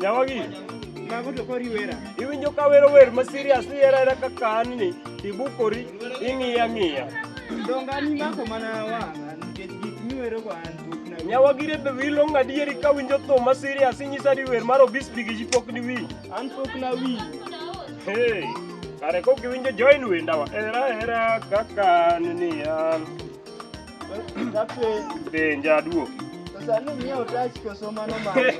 Nyawagi. Mago to kori wera. Iwinjo ka wero wer ma serious ni era era ka kan ni ibukori ing'iya ng'iya. Donga ni mako mana wa nikech gik miwero go an buk na. Nyawagi re be wilo ngadieri ka winjo to ma serious inyisa di wer mar obis bigi ji pok ni wi. An pok na wi. Hey. Kare kok iwinjo join wendawa. Era era ka kan ni an. Be njaduo. Sasa ni mimi utachi kusoma no mama.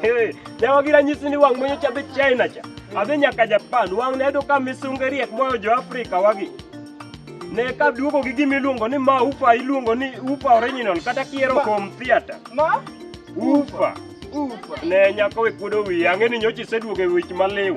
Jawa gira nyisi ni wang mwenye chabe China cha. Abe nyaka Japan wang ne do ka misungeri ek moyo jo Afrika wagi. Ne ka duogo gi gimi luongo ni ma ufa iluongo ni ufa original kata kiero kom theater. Ma ufa. Ufa. Ne nyako we kudo wi ang'e ni nyochi seduogo e wich maliw.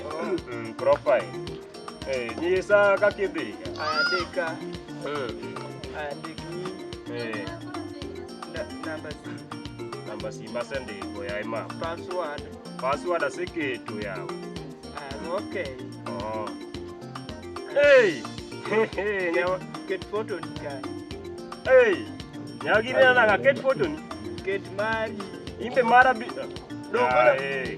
Mm, profile. Eh, ni saa kakidhi. Andika, Mm. andiki Eh, na- namba si- namba simba sendiko ya ima. password. Password asikitu yao. Ah, okay. Oh. Hey. Hehe, nyawa. Ket photo ni kae. Hey. Nyagiri na ka ket photo ni. Ket mari. Imbe mara bi. Doko na- Ah, eh.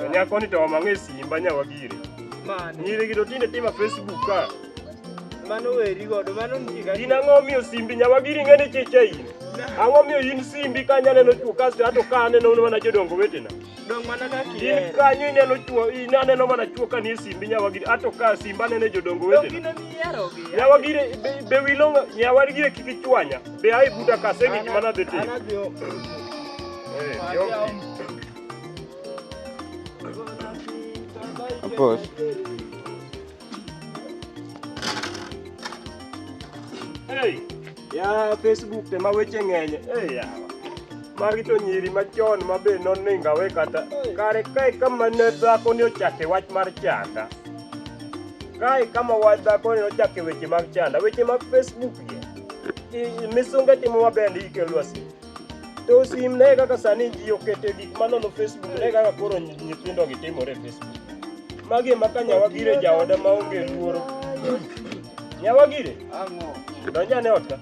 To nyako ni to omang'e simba nyawagire. Nyiri gi to tinde tima Facebook ka. Mano weri godo, mano ntiga. In ang'o miyo simbi nyawagiri ng'ene cheche in? Ang'o miyo in simbi ka nyaneno chuo kasto ato ka aneno mana jodongo wetena? Dong mana ka In kier. kanyo ineno chuo, in aneno mana chuo ka nie simbi nyawagiri ato ka simba nene jodongo Dong wetena. gino mihero gi. Nyawagire be, be wilo nyawagire kik ichwanya. Be ai buta ka segi gima nadhi timo. Anadhi Boss. Hey, ya Facebook te ma weche ng'eny. Hey, ya. Magi to nyiri machon ma be noningawe kata kare kae kama ne dhako ni ochake wach mar chanda. Kae kama wach dhako ni ochake weche mag chanda, weche mag Facebook gi. I- Misunge timo maber ndi ikelwa si. To sim ne kaka sani ji okete gik manono Facebook ne kaka koro nyithindo gi timore Facebook. Magi ema ka nyawagire jaoda maonge luoro. Nyawagire? Ang'o? Donja ne ot ka.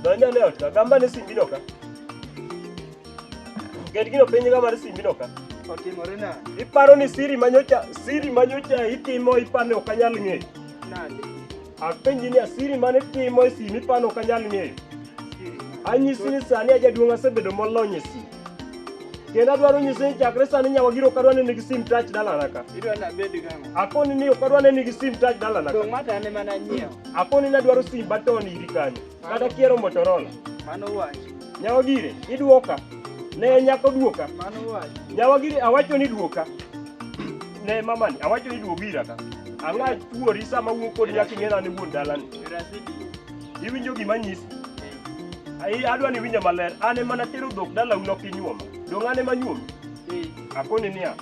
Donja ne ot ka. Gamba ne simbi no ka. Get gino penye gamba ne simbi no ka. Otimore na. Iparo ni siri manyocha siri manyocha itimo ipane ok anyal ng'eyo. Nade? Apenji ni asiri mane timo e sini pano ok anyal ng'eyo. Anyisi ni sani ajaduong' asebedo molony e sini. Kendo adwaro nyisi ni chakre sani nyawa giro kadwa ni nigi sim touch dalana ka. Idwa na bed gang'o? Akoni ni ok adwa ni nigi sim touch dalana ka. Dong' mata ne mana nyiewo. Akoni ni adwaro sim baton iri kanyo. Kata kiero Motorola. Mano wach. Nyawa gire, iduoka. Ne nyako duoka. Mano wach. Nyawa gire, awacho ni duoka. Ne mamani, awacho ni duoka ira ka. Ang'a tuori sama wuok kod nyako ing'era ni wuon dalani. Iwinjo gima nyisi. Ai adwa ni winja maler. An ema natero dhok dalau nokinyuoma. Dong' an ema nyuomi. Akoni niya.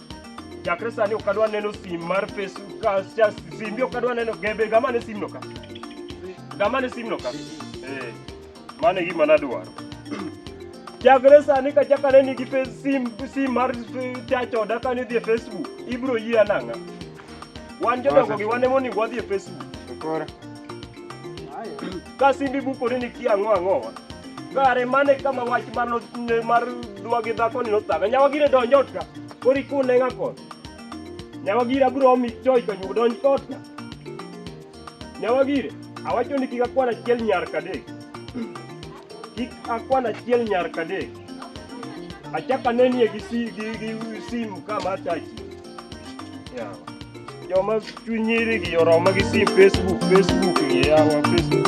chakre sani ok adwa neno sim mar Facebook ka cha- simbi ok adwa neno gebe gama ne simno ka gama ne simno ka eh mano e gima nadwaro chakre sani ka chaka ne nigi fe- sim sim mar eh, chach oda ka ne dhi e Facebook ibro yie anang'a wan jodongo gi wan emonego wadhi e Facebook Koro. ka simbi bukore ni kia ang'o ang'owa kare mane kama wach mar no- mar dwa gi dhakoni nothaga nyawagire donjot ka Koro ikune nga koth. Nyawa gira bro mi choi ka nyugo donj koth ka. Nyawa gire, awacho ni kik akwan achiel nyar kadek. Kik akwan achiel nyar kadek. Achaka nenie gi si gi gi simu kama tachi. Yawa. Joma chunyiri gi yoroma gi sim Facebook, Facebook gi yawa Facebook.